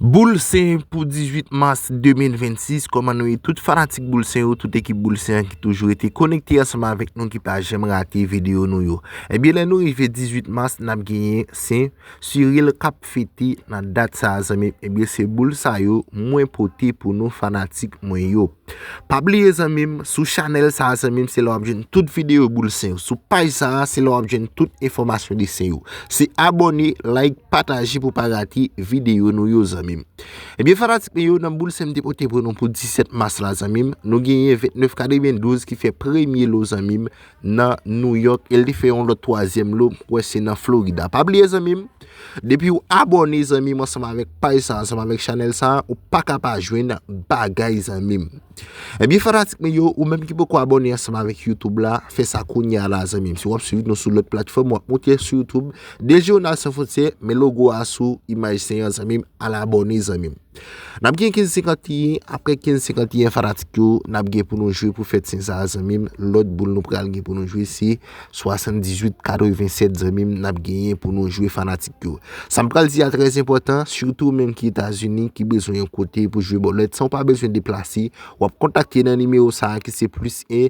Boul Sen pou 18 mas 2026, kòman nou ye tout fanatik Boul Sen yo, tout ekip Boul Sen an ki toujou rete konekte ansanm avèk nou, ki pa janm rate videyo nou yo. Ebyen lè nou rive 18 mas nap genyen Sen Cyril kap fete nan dat sa a zanmim, ebyen se boul sa yo mwen pote pou nou fanatik mwen yo. Pa bliye zanmim sou chanel sa zanmim se la wap jwenn tout video boul sen yo sou paj sa se la wap jwenn tout enfòmasyon de sen yo se abòne like pataje pou pa rate video nou yo zanmim ebyen fanatik mwen yo nan boul sen m te pote pou nou pou 17 mas la zanmim nou genyen 29 kadebyen 12 ki fè premye lo zanmim nan Nouyòk e li fè yon lòt twazyèm lo m kwè se nan Florida. Pa bliye zanmi m, depi ou abòne zanmi m ansanm avèk paj sa, ansanm avèk chanèl sa, ou pa ka pa jwenn bagay zanmi m. Ebyen eh fanatik mwen yo, ou menm ki poko abòne ansanm avèk Youtube la, fè sa kounye a la zanmi m. Si w ap swiv nou sou lòt platfòm, w ap moute sou Youtube, Dejeunal Sans Frontières, men logo a sou imaj 5 an zanmi m, al abòne zanmi m. Nap gen 15 51 aprè 15 51 fanatik yo nap gen pou nou jwe pou fèt sen sa zanmim lòt boul nou pral gen pou nou jwe se 78 87 zanmim nap genyen pou nou jwe fanatik yo sam pral di a trè enpòtan sitou menm ki etazini ki bezwen yon kote pou jwe bòlèt san ou pa bezwen deplase wap kontakte nan nimewo sa ki se plis 1.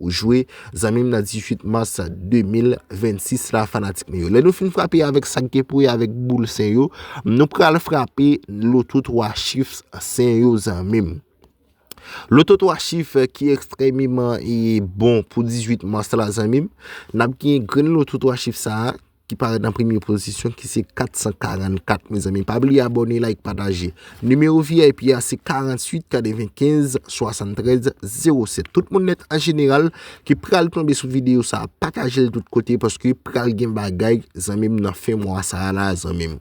Ou jwe zanmi m nan 18 mars 2026 la fanatik mwen yo. Lè nou fin frape avèk sak gen pou wè avèk boul sen yo, nou pral frape loto 3 chif sen yo zanmi m. Loto 3 chif ki ekstrèmeman bon pou 18 mars la zanmi m. Nap gen grenn loto 3 chif sa a Ki parèt nan premye pozisyon ki se 444 mezanmi pa bliye abòne like pataje nimewo vip a se 48 95 73 07 tout moun nèt an jeneral ki pral tonbe sou videyo sa patajel tout kote paske pral gen bagay zanmim nan fen mwa sa la zanmim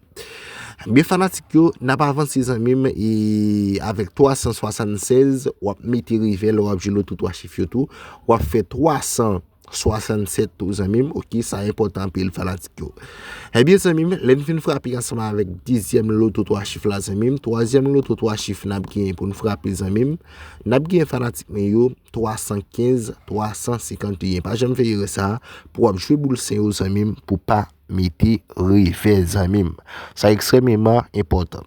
ebyen fanatik yo nap avanse zanmim e avèk 376 wap mete rive lè wap jwenn lòt 3 chif yo tou wap fè 300. 67 tou zanmim ok sa enpòtan anpil fanatik yo Ebyen zanmim lèn fin frape ansanm avèk dezyèm loto 3 chif la zanmim twazyèm loto 3 chif nap gen poun frape zanmim nap gen fanatik mwen yo 315 351 pa janm fè erè sa pou wap jwe boul sen yo zanmim pou pa mete revè zanmim sa ekstrèmeman enpòtan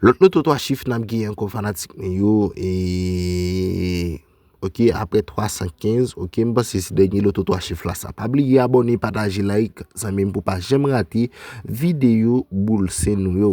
lòt loto 3 chif nap gen ankò fanatik mwen yo eee. Ok aprè 315 ok m panse se dènye loto 3 chif la sa pa bliye abòne pataje like zanmim pou pa janm rate videyo boul sen nou yo.